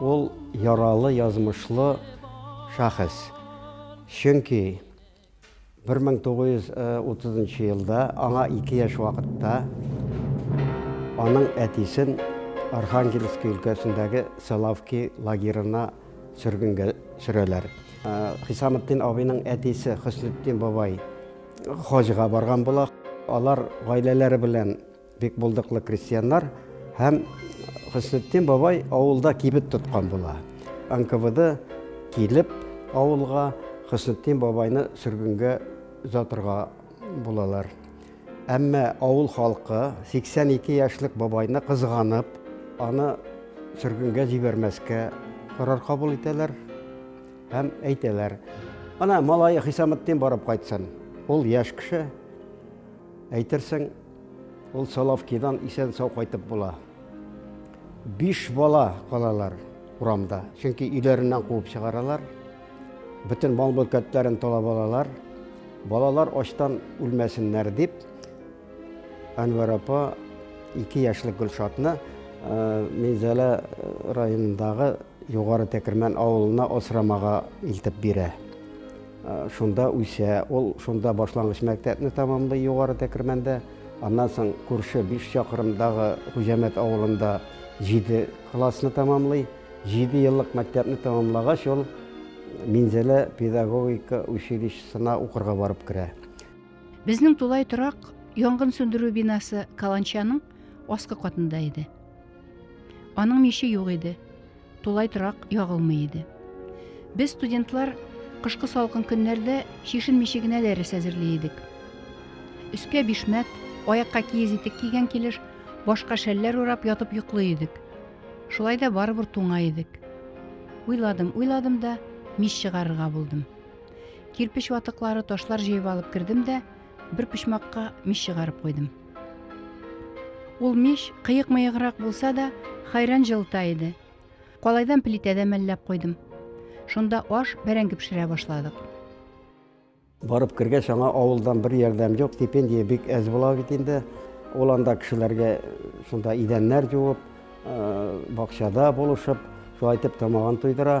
Ул яралы язмышлы шәхес. Чөнки 1930 елда аңа 2 яшь вакытта аның әтисен Архангельск өлкәсендәге Соловки лагерына сөргенгә сөрәләр. Хисаметдин абыйның әтисе Хөснетдин бабай хаҗга барган була. Алар гаиләләре белән Бик булдыклы крестьяннар һәм Хөснетдин бабай авылда кибет тоткан була. НКВД килеп авылга Хөснетдин бабайны сөргенгә озатырга булалар. Әмма авыл халкы 82 яшьлек бабайны кызганып, аны сөргенгә җибәрмәскә карар кабул итәләр һәм әйтәләр. Ана малае Хисаметдин барып кайтсын. Ул яшь кеше. Әйтерсең, Ул Соловкидан исән-сау кайтып була. Биш бала калалар урамда, чөнки өйләреннән куып чыгаралар. Бөтен мал-мөлкәтләрен талап алалар. Балалар ачтан үлмәсеннәр дип, Әнвәр апа ике яшьлек Гөлшатны э, Минзәлә э, районындагы Югары Тәкермән авылына асрамага илтеп бирә. Шунда үсә. Ул шунда башлангыч мәктәпне тәмамлый Югары Тәкермәндә. Аннан соң күрше биш чакрымдагы Хуҗәмәт авылында җиде классны тәмамлый. Җиде еллык мәктәпне тәмамлагач, ул Минзәлә педагогика училищесына укырга барып керә. Безнең тулай торак янгын сүндерү бинасы каланчаның аскы катында иде. Аның миче юк иде. Тулай торак ягылмый иде. Без студентлар кышкы салкын көннәрдә чишенмичә генә дәрес әзерли идек. Өскә бишмәт, аякка киез итек кигән килеш, башка шәлләр урап ятып йоклый идек. Шулай да барыбер туңа идек. Уйладым, уйладым да мич чыгарырга булдым. Кирпеч ватыклары, ташлар җыеп алып кердем дә бер почмакка мич чыгарып куйдым. Ул мич кыек-мыеграк булса да, хәйран җылыта иде. Калайдан плитәдә мәлләп куйдым. Шунда аш, бәрәңге пешерә башладык. Барып кергәч, аңа авылдан бер ярдәм юк, стипендия бик әз була бит инде. Ул анда кешеләргә шунда идәннәр җуып, бакчада булышып, шулай итеп тамагын туйдыра.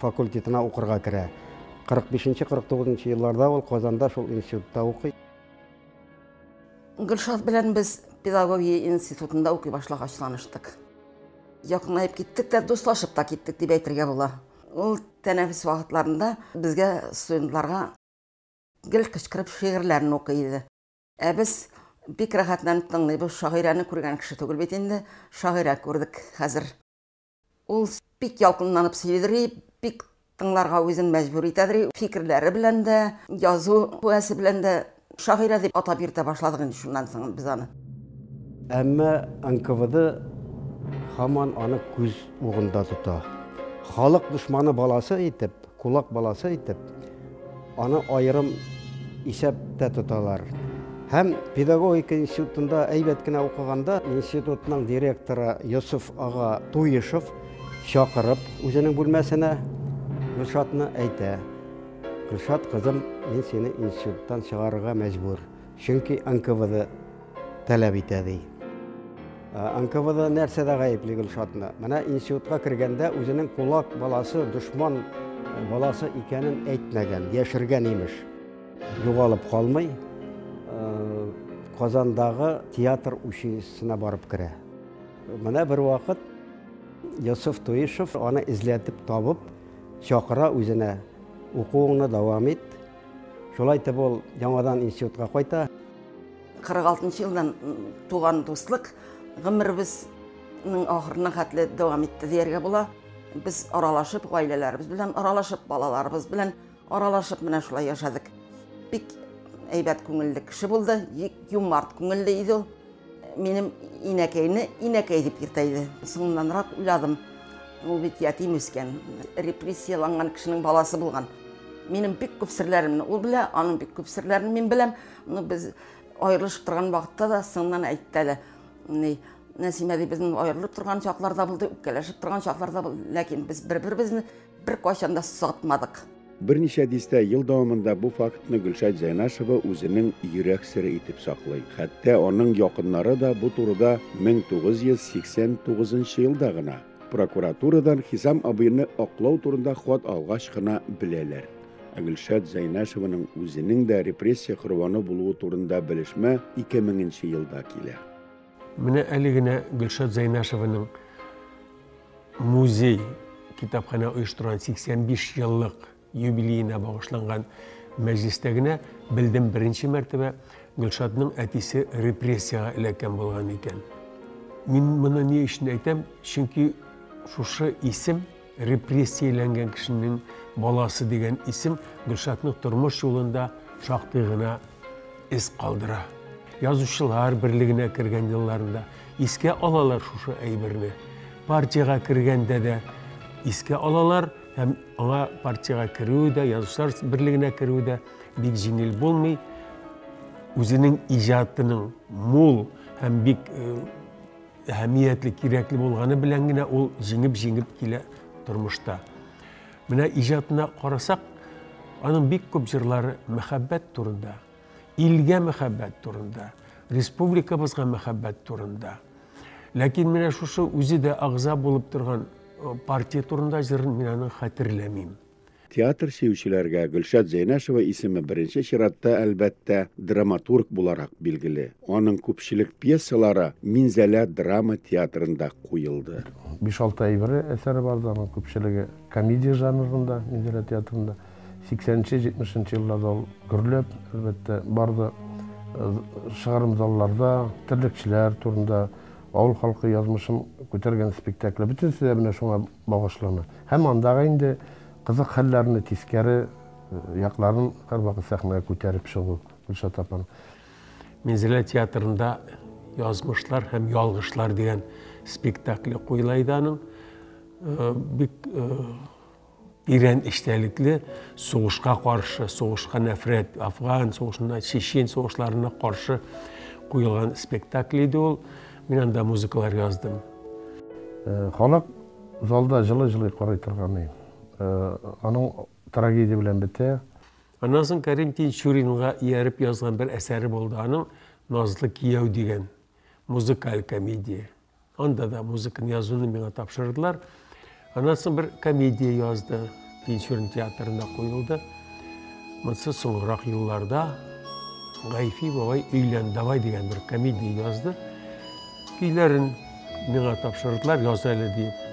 факультетына укырга керә. 45-49 нчы елларда ул Казанда шул институтта укый. Гөлшат белән без педагогия институтында укый башлагач таныштык. Якынлаеп киттек тә, дуслашып та киттек дип әйтергә була. Ул тәнәфес вакытларында безгә студентларга гел кычкырып шигырьләрен укый иде. Ә без бик рәхәтләнеп тыңлыйбыз, шагыйрәне күргән кеше түгел бит инде, шагыйрә күрдек хәзер. Ул бик ялкынланып сөйлидри, бик тыңларга үзен мәҗбүр итәдри, фикерләре белән дә, язу куәсе белән дә шагыйрә дип атап йөртә башладык инде шуннан соң без аны. Әмма НКВД һаман аны күз угында тота. Халык дошманы баласы итеп, Кулак баласы итеп, аны аерым исәптә тоталар. Һәм педагогика институтында әйбәт кенә укыганда, институтның директоры Йосыф ага Туешов чакырып үзенең бүлмәсенә Гөлшатны әйтә. Гөлшат, кызым, мин сине институттан чыгарырга мәҗбүр. Чөнки НКВД таләп итә, ди. НКВД нәрсәдә гаепли Гөлшатны? Менә институтка кергәндә үзенең кулак баласы, дошман баласы икәнен әйтмәгән, яшергән имеш. Югалып калмый, Казандагы театр училищесына барып керә. Менә бервакыт Йосыф Туишев аны эзләтеп табып, чакыра үзенә, укуыңны дәвам ит, Шулай итеп ул яңадан институтка кайта. 46 елдан туган дуслык гомеребезнең ахырына хәтле дәвам итте дияргә була. Без аралашып, гаиләләребез белән аралашып, балаларыбыз белән аралашып менә шулай яшәдек. Бик әйбәт күңелле кеше булды, юмарт күңелле иде ул. Минем инәкәйне инәкәй дип йөртә иде. Соңыннанрак уйладым. Ул бит ятим үскән, репрессияланган кешенең баласы булган. Минем бик күп серләремне ул белә, аның бик күп серләрен мин беләм. Ну, без аерылышып торган вакытта да соңыннан әйтте әле. Ни, Нәсимә ди, безнең аерылып торган чакларда булды, үпкәләшеп торган чакларда булды, ләкин без бер-беребезне Бер кайчан да сатмадык. Берничә дистә ел дәвамында бу фактны Гөлшат Зәйнашева үзенең йөрәк сере итеп саклый. Хәтта аның якыннары да бу турыда 1989 елда гына, прокуратурадан Хисам абыйны аклау турында хат алгач кына беләләр. Ә Гөлшат Зәйнашеваның үзенең дә репрессия корбаны булуы турында белешмә 2000 нче елда килә. Менә әле генә Гөлшат Зәйнашеваның музей китапханә оештырган 85 еллык юбилеена багышланган мәҗлестә генә белдем беренче мәртәбә Гөлшатның әтисе репрессиягә эләккән булган икән. Мин моны ни өчен әйтәм? Чөнки шушы исем Репрессияләнгән кешенең баласы дигән исем Гөлшатның тормыш юлында шактый гына эз калдыра. Язучылар берлегенә кергән елларында искә алалар шушы әйберне. Партиягә кергәндә дә искә алалар һәм аңа партиягә керүе дә, язучылар берлегенә керүе дә бик җиңел булмый. Үзенең иҗатының мул һәм бик э, әһәмиятле, кирәкле булганы белән генә ул җиңеп-җиңеп килә тормышта. Менә иҗатына карасак, аның бик күп җырлары мәхәббәт турында, илгә мәхәббәт турында, республикабызга мәхәббәт турында. Ләкин менә шушы үзе дә агза булып торган партия турында җырын мин аны хәтерләмим. Театр сөючеләргә Гөлшат Зәйнәшева исеме беренче чиратта, әлбәттә, драматург буларак билгеле. Аның күпчелек пьесалары Минзәлә драма театрында куелды. Биш-алты әйберле әсәре бардыр, аның күпчелеге комедия жанрында, Минзәлә театрында. Сиксәненче, җитмешенче елларда ул гөрләп, әлбәттә, барды. Чыгарым залларда терлекчеләр турында, авыл халкы язмышын күтәргән спектакле, бөтенесе дә менә шуңа багышлана һәм андагы инде кызык хәлләрне, тискәре якларын һәрвакыт сәхнәгә күтәреп чыгу, Гөлшат апаның. Минзәлә театрында Язмышлар һәм ялгышлар дигән спектакле куела иде аның. Э, бик э, тирән эчтәлекле сугышка каршы, сугышка нәфрәт, афган сугышына, чечен сугышларына каршы куелган спектакль иде ул. Мин анда музыкалар яздым. Э, халык залда жылы-жылы карый торганы. Э, аның трагедия белән бетә. Аннан соң Кәрим Тинчуринга ияреп язган бер әсәре булды. Аның Назлы кияү дигән музыкаль комедия. Анда да музыканы язуны миңа тапшырдылар. Аннан соң бер комедия язды, Тинчурин театрында куелды. Монсы соңрак елларда Гайфи бабай өйлән давай дигән бер комедия язды. Көйләрен миңа тапшырдылар, яз әле диеп.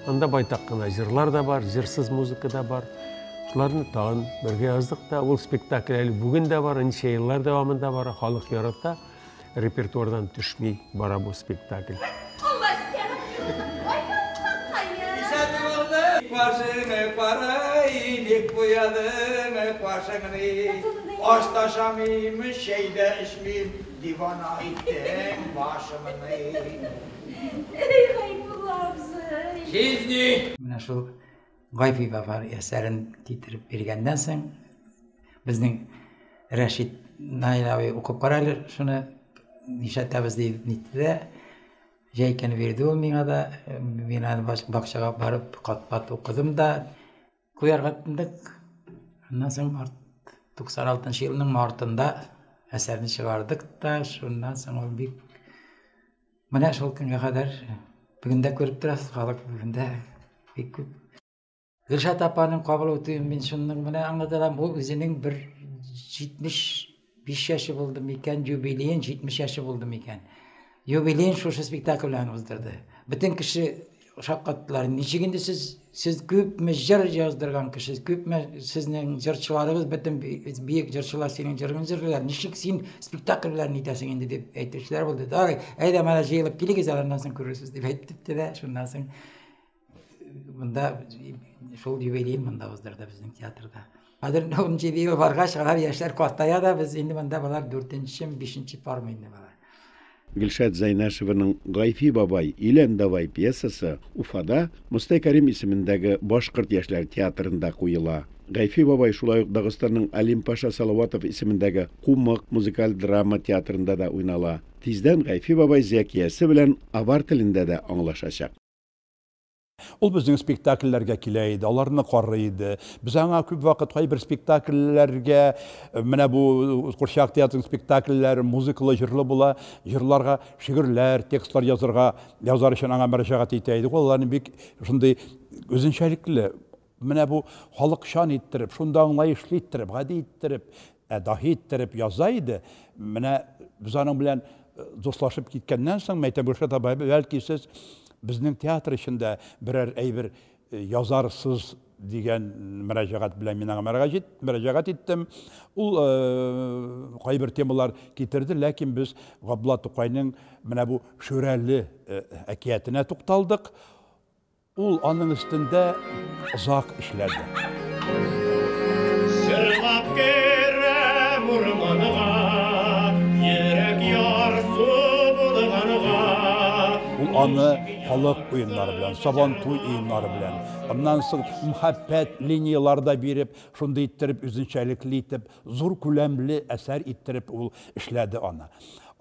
Анда байтак кына җырлар да бар, җырсыз музыка да бар. Шуларны тагын бергә яздык та. Ул спектакль әле бүген дә бар, ничә еллар дәвамында бара, халык ярата. репертуардан төшми бара бу спектакль. Башыңны карайник куядың башыңны Аш та ашамыйм, чәй дә эчмим, дивана иттең башымны. Әй Гайбулла абзый! Җизни! Менә шул Гайфи баба әсәрен китереп биргәннән соң, безнең Рәшит Наил абый укып кара әле шуны, нишләтәбез дип нитте дә, җәйкәне бирде ул миңа да, мин аны бакчага барып кат-кат укыдым да, куярга тындык. Аннан соң 96 елның мартында әсәрне чыгардык та, шуннан соң ул бик Менә шул көнгә кадәр бүген дә күреп торасыз, халык бүген дә бик күп. Гөлшат апаның кабул үтүен мин шуның менә аңлатам, ул үзенең бер 75 яше булды микән, юбилеен 70 яше булды микән. Юбилеен шушы спектакль белән уздырды. Бөтен кеше Шаккаттылар. Ничек инде сез сез күпме җыр яздырган кеше, күпме сезнең җырчыларыгыз бөтен биек җырчылар синең җырыңны җырлыйлар. Ничек син спектакль белән итәсең инде дип әйтүчеләр булды. Дары, әйдә менә җыелып килегез, аннан соң күрерсез дип әйтте дә, шуннан соң монда шул юбилей монда уздырды безнең театрда. Хәзер инде ун җиде ел баргач, алар яшьләр картая да, без инде монда болар дүртенчеме, бишенче пармы инде болар. Гөлшат Зәйнәшеваның Гайфи бабай, Илән давай пьесасы Уфада Мостай Кәрим исемендәге башкорт яшьләр театрында куела. Гайфи бабай шулай ук Дагыстанның Алим Паша Салаватов исемендәге Кумык музыкаль драма театрында да уйнала. Тиздән Гайфи бабай Зәкиясе белән авар телендә дә аңлашачак. Ул безнең спектакльләргә килә иде, аларны карый иде. Без аңа күп вакыт кайбер спектакльләргә, менә бу Курчак театрының спектакльләре музыкалы, җырлы була, җырларга шигырьләр, текстлар язырга, язар өчен аңа мөрәҗәгать итә идек. Ул аларны бик шундый үзенчәлекле Менә бу халыкчан иттереп, шундый аңлаешлы иттереп, гади иттереп, ә даһи иттереп яза иде. Менә без аның белән э, дуслашып киткәннән соң, Мәйтә Гөлшат абай, бәлки сез безнең театр эчендә берәр әйбер э, язарсыз дигән мөрәҗәгать белән мин аңа мөрәҗәгать иттем. Ул э, кайбер темалар китерде, ләкин без Габдулла Тукайның менә бу Шүрәле әкиятенә тукталдык. Ул аның өстендә озак эшләде. Җырлап керәм урманга, Йөрәк ярсу булганга. Ул аны халык уеннары белән, Сабантуй уеннары белән, аннан соң мхәббәт линияләре дә биреп, шундый иттереп, үзенчәлекле итеп, зур күләмле әсәр иттереп ул эшләде аны.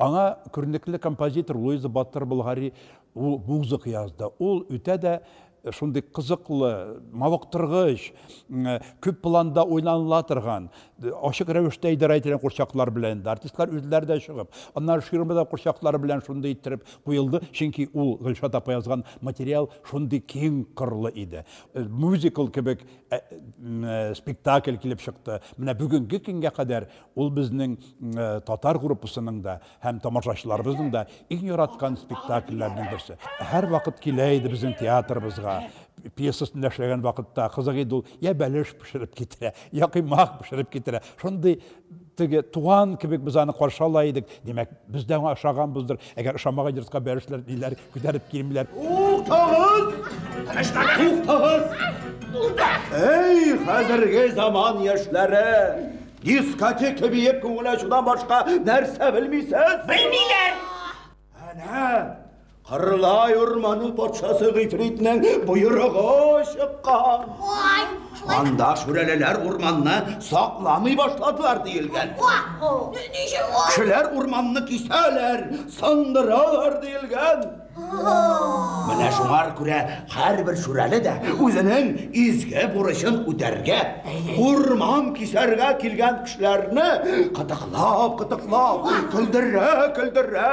Аңа күренекле композитор Луиза Батыр-Болгари Ул музыка язды. Ул үтә дә шундый кызыклы, мавыктыргыч, күп планда уйланыла торган, ачык рәвештә идарә ителгән курчаклар белән дә, артистлар үзләре дә чыгып, аннары ширма да курчаклары белән шундый иттереп куелды, чөнки ул Гөлшат апа язган материал шундый киң кырлы иде. Мюзикл кебек спектакль килеп чыкты. Менә бүгенге көнгә кадәр ул безнең татар группасының да Һәм тамашачыларыбызның да иң яраткан спектакльләренең берсе. Һәр вакыт килә иде безнең театрыбызга. Пьесасында эшләгән вакытта кызык иде ул. Я бәлеш пешереп китерә, я кыймак пешереп китерә. Шундый теге туган кебек без аны каршы ала идек. Димәк, без дә аңа ошаганбыздыр. Әгәр ошамаган йортка бәлешләр ниләр күтәреп килмиләр. Туктагыз! Туктагыз! Әй, хәзерге заман яшьләре! Дискотека биеп күңел ачудан башка нәрсә белмисез? Белмиләр! Әнә, Кырлай урманың патшасы гыйфритнең боерыгы чыккан. Ой, Анда шүрәлеләр урманны сакламый башладылар диелгән. Кешеләр урманны кисәләр, сындыралар диелгән. Менә шуңар күрә һәрбер шүрәле дә үзенең изге бурычын үтәргә, урман кисәргә килгән кешеләрне кытыклап, кытыклап, көлдерә, көлдерә,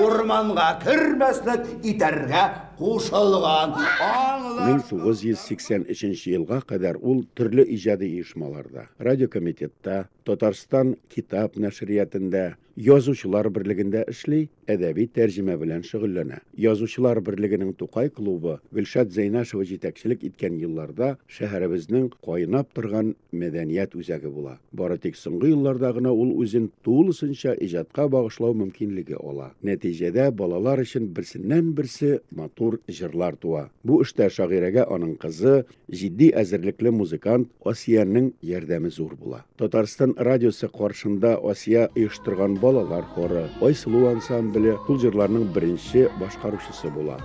урманга кермәслек итәргә кушылган. Аңлар. 1983 елга кадәр ул төрле иҗади оешмаларда, радиокомитетта, Татарстан китап нәшриятендә, Язучылар берлегендә эшли, әдәби тәрҗемә белән шөгыльләнә. Язучылар берлегенең Тукай клубы Гөлшат Зәйнашева җитәкчелек иткән елларда шәһәребезнең кайнап торган мәдәният үзәге була. Бары тик соңгы елларда гына ул үзен тулысынча иҗатка багышлау мөмкинлеге ала. Нәтиҗәдә балалар өчен берсеннән-берсе матур җырлар туа. Бу эштә шагыйрәгә аның кызы, Җитди әзерлекле музыкант Асиянең ярдәме зур була. Татарстан радиосы каршында Асия оештырган балалар хоры, Айсылу ансамбле шул җырларның беренче башкаручысы була.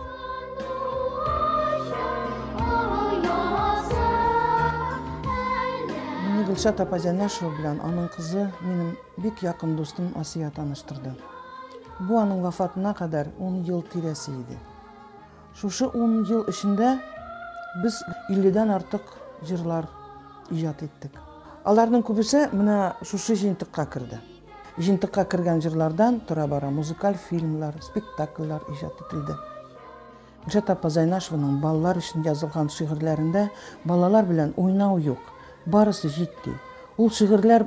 Мине Гөлшат апа Зәнәшева белән аның кызы, минем бик якын дустым Асия таныштырды. Бу аның вафатына кадәр 10 ел тирәсе иде. Шушы ун ел эчендә без 50 дән артык җырлар иҗат иттек. Аларның күбесе менә шушы җыентыкка керде. Җыентыкка кергән җырлардан тора-бара музыкаль фильмлар, спектакльләр иҗат ителде. Гөлшат апа Зайнашеваның балалар өчен язылган шигырьләрендә балалар белән уйнау юк, барысы җитди. Ул шигырьләр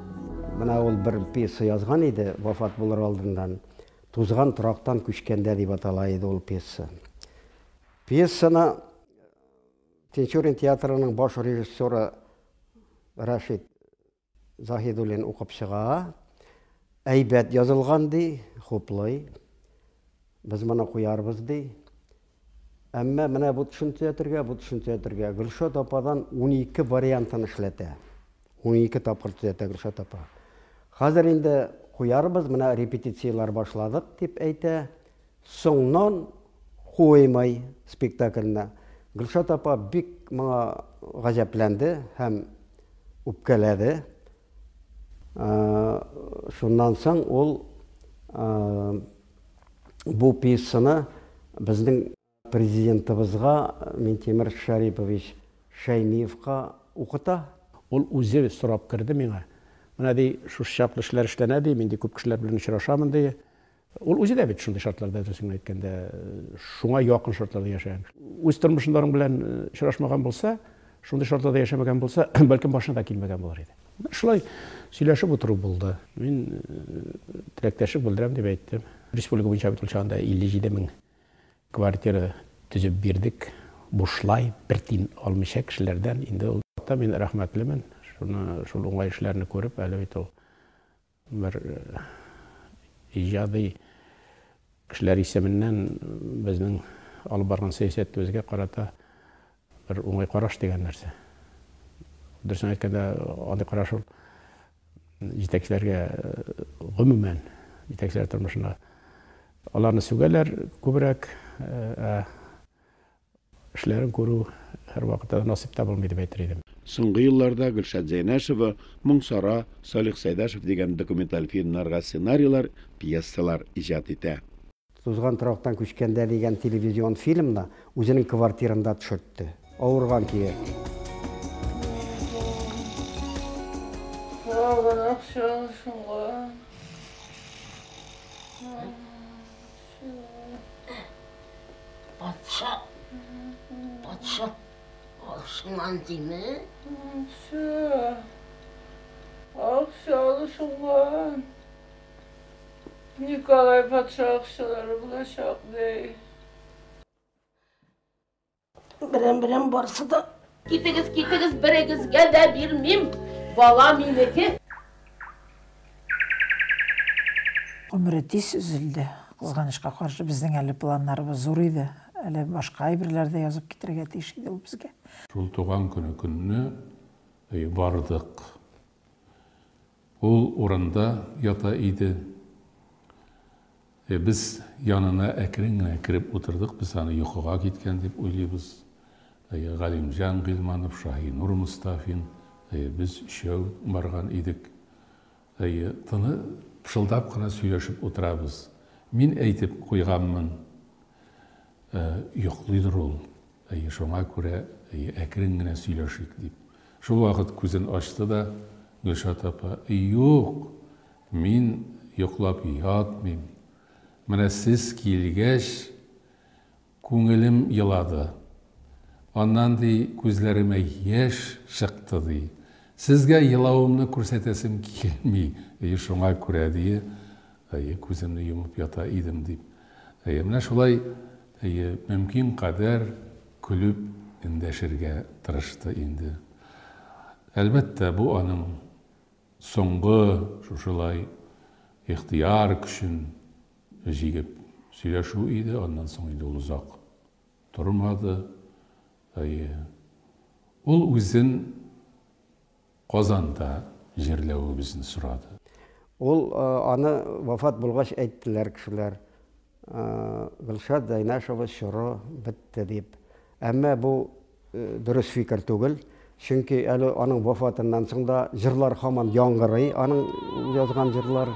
Менә ул бер пьеса язган иде, вафат булыр алдыннан. Тузган торактан күчкәндә дип атала иде ул пьеса. Пьесаны Тинчурин театрының баш режиссеры Рашид Заһидуллин укып чыга. Әйбәт язылган ди, хуплый. Без моны куярбыз ди. Әмма менә бу төшенчә ятергә, бу төшенчә ятергә. Гөлшат ападан 12 вариантын эшләтә. 12 тапкыр төзәтә Гөлшат апа. Хәзер инде куярбыз, менә репетицияләр башладык, дип әйтә. Соңнан куймай спектакльне. Гөлшат апа бик моңа гаҗәпләнде һәм үпкәләде. Шуннан соң ул бу пьесаны безнең Президентыбызга Минтимер Шәрипович Шәймиевка укыта. Ул үзе сорап керде миңа. Менә, ди, шушы чаклы эшләр эшләнә, ди, мин, ди, күп кешеләр белән очрашамын, ди. Ул үзе дә бит шундый шартларда, дөресен генә әйткәндә, шуңа якын шартларда яшәгән. Үз тормышында аның белән очрашмаган булса, шундый шартларда яшәмәгән булса, бәлкем башына да килмәгән булыр иде. Менә шулай сөйләшеп утыру булды. Мин теләктәшлек белдерәм дип әйттем. Республика буенча бит ул чагында 57 мең квартира төзеп бирдек, бушлай, бер тин алмыйча кешеләрдән. Инде ул вакытта мин рәхмәтлемен, шуны, шул уңай эшләрне күреп, әле бит ул Бер иҗади кешеләр исеменнән безнең алып барган сәясәтебезгә карата бер уңай караш дигән нәрсә. Дөресен әйткәндә, андый караш ул җитәкчеләргә гомумән, җитәкчеләр тормышына аларны сүгәләр күбрәк, ә Эшләрен күрү һәрвакыт та насыйп та булмый дип әйтер идем. Соңгы елларда Гөлшат Зәйнәшева, Моң Сара, Салих Сәйдәшев дигән документаль фильмнарга сценарийлар, пьесалар иҗат итә. Тузган торактан күчкәндә дигән телевизион фильмны үзенең квартирында төшертте. Авырган көе. Калганак чагы шуңа. Патша, патша, ашман дими. Патша, акчалы шуңган. Николай патша акчалары булачак, дей. Берем берем барсы да. Китегез, китегез, берегезгә дә бирмим. Бала минеке. Гомере тиз өзелде. Кызганычка каршы, безнең әле планнарыбыз зур иде. Әле башка әйберләр дә язып китерергә тиеш иде ул безгә. Шул туган көне көнне бардык. Ул урында ята иде. Э, без янына әкрен генә кереп утырдык, без аны йокыга киткән дип уйлыйбыз. Э, Галимҗан Гыйльманов, Шаһинур Мостафин, э, без өчәү барган идек. Э, тыны пышылдап кына сөйләшеп утырабыз. Мин әйтеп куйганмын, э, йоклыйдыр ул, Әйе, шуңа күрә, әйе, әкрен генә сөйләшик, дип, шул вакыт күзен ачты да Гөлшат апа, Юк, мин йоклап ятмыйм. Менә сез килгәч, күңелем елады. Аннан, ди, күзләремә яшь чыкты, ди. Сезгә елавымны күрсәтәсем килми, әйе, шуңа күрә, ди, Әйе, күземне йомып ята идем, дип. Әйе, менә шулай, әйе, мөмкин кадәр көлеп эндәшергә тырышты инде. Әлбәттә, бу аның соңгы шушылай ихтыяр көчен җигеп сөйләшү иде, аннан соң инде ул озак тормады. Әйе, ул үзен Казанда җирләвебезне сорады. Ул аны вафат булгач әйттеләр кешеләр, Гөлшат Зәйнәшева чоры бетте дип. Әмма бу дөрес фикер түгел, чөнки әле аның вафатыннан соң да җырлар һаман яңгырый, аның язган җырлары.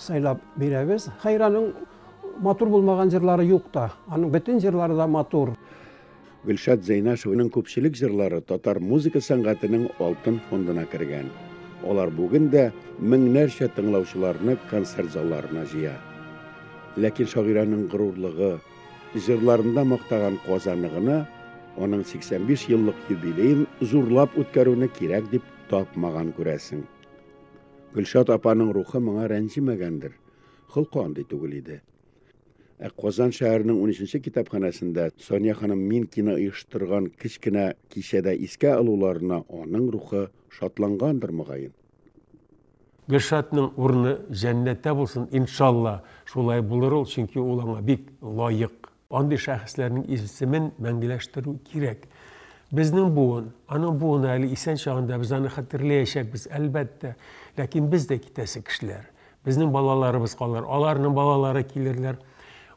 сайлап бирәбез. Хәйраның матур булмаган җырлары юк та. Аның бөтен җырлары да матур. Гөлшат Зәйнашеваның күпчелек җырлары татар музыка сәнгатенең алтын фондына кергән. Алар бүген дә меңнәрчә тыңлаучыларны концерт залларына җыя. Ләкин шагыйрәнең горурлыгы, җырларында мактаган Казаны гына аның 85 еллык юбилеен зурлап үткәрүне кирәк дип тапмаган күрәсең. Гөлшат апаның рухы моңа рәнҗемәгәндер. Холкы андый түгел иде. Ә Казан шәһәренең 13-нче китапханәсендә Соня ханым Минкина оештырган кечкенә кичәдә искә алуларына аның рухы шатлангандыр мөгаен. Гөлшатның урыны җәннәттә булсын, иншалла. Шулай булыр ул, чөнки ул аңа бик лаек. Андый шәхесләрнең исемен мәңгеләштерү кирәк. Безнең буын, аның буыны әле исән чагында без аны хәтерләячәкбез, әлбәттә. Ләкин без дә китәсе кешеләр. Безнең балаларыбыз калыр, аларның балалары килерләр.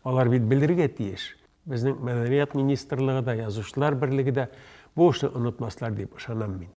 Алар бит белергә тиеш. Безнең мәдәният министрлыгы да, язучылар берлеге дә бу эшне онытмаслар дип ышанам мин.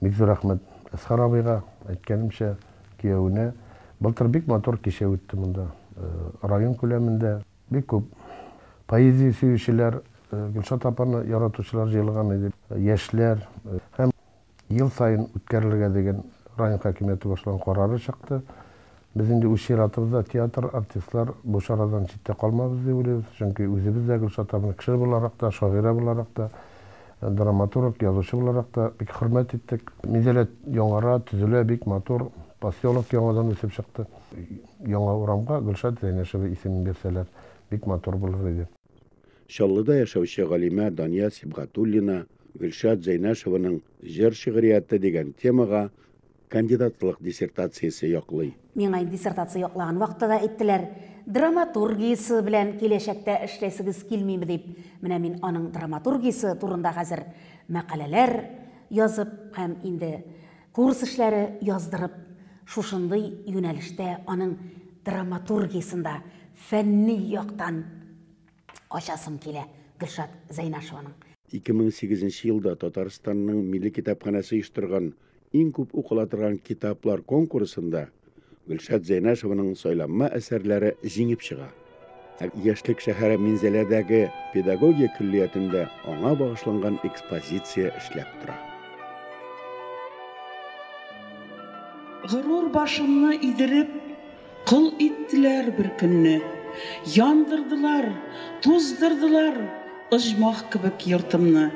Бик зур рәхмәт Әсхар абыйга. Әйткәнемчә, киявенә. Былтыр бик матур кичә үтте монда. Район күләмендә бик күп поэзия сөючеләр, Гөлшат апаны яратучылар җыелган иде. Яшьләр һәм ел саен үткәрелергә дигән район хакимияте башлаган карары чыкты. Без инде үз чиратыбызда театр, артистлар бу чарадан читтә калмабыз дип уйлыйбыз, чөнки үзебез дә Гөлшат абыйны кеше буларак та, шагыйрә буларак та, драматург, язучы буларак та бик хөрмәт иттек. Минзәлә яңара, төзелә, бик матур, поселок яңадан үсеп чыкты. Яңа урамга Гөлшат Зәйнәшева исемен бирсәләр, бик матур булыр иде. Чаллыда яшәүче галимә Дания Сибгатуллина Гөлшат Зәйнәшеваның җыр-шигърияте дигән темага кандидатлык диссертациясе яклый. Миңа диссертация яклаган вакытта да әйттеләр, драматургиясе белән киләчәктә эшләсегез килмиме дип. Менә мин аның драматургиясе турында хәзер мәкаләләр язып һәм инде курс эшләре яздырып, шушындый юнәлештә аның драматургиясен дә фәнни яктан Ачасым килә Гөлшат Зәйнашеваның. 2008 нче елда Татарстанның Милли китапханәсе оештырган Иң күп укыла торган китаплар конкурсында Гөлшат Зәйнашеваның сайланма әсәрләре җиңеп чыга. Ә Яшьлек шәһәре Минзәләдәге педагогия көллиятендә аңа багышланган экспозиция эшләп тора. Горур башымны идереп, Кол иттеләр бер көнне. Яндырдылар, туздырдылар оҗмах кебек йортымны.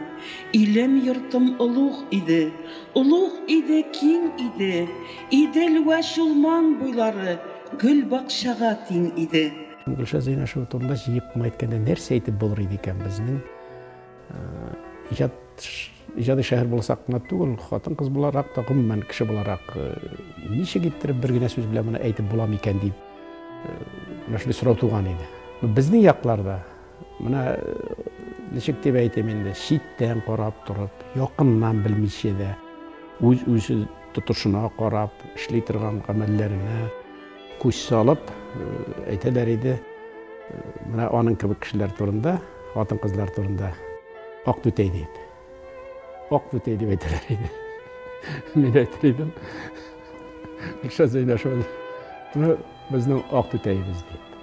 Илем-йортым олуг иде, олуг иде, киң иде. Идел вә Чулман буйлары гөл-бакчага тиң иде. Гөлшат Зәйнәшева турында җыеп кына әйткәндә нәрсә әйтеп булыр иде икән? Безнең иҗат Иҗади шәһәр буласак кына түгел, хатын-кыз буларак та, гомумән, кеше буларак, ничек иттереп бер генә сүз белән моны әйтеп була микән дип, менә шундый сорау туган иде. Безнең якларда, менә ничек дип әйтим инде, читтән карап торып, якыннан белмичә дә, үз-үзе тотышына карап, эшли торган гамәлләренә, Күз салып, әйтәләр иде, менә аның кебек кешеләр турында, хатын-кызлар турында. Ак түтәй дип. Ак түтәй дип әйтәләр иде. Мин әйтер идем. Гөлшат Зәйнәшева. Менә безнең ак түтәебез дип.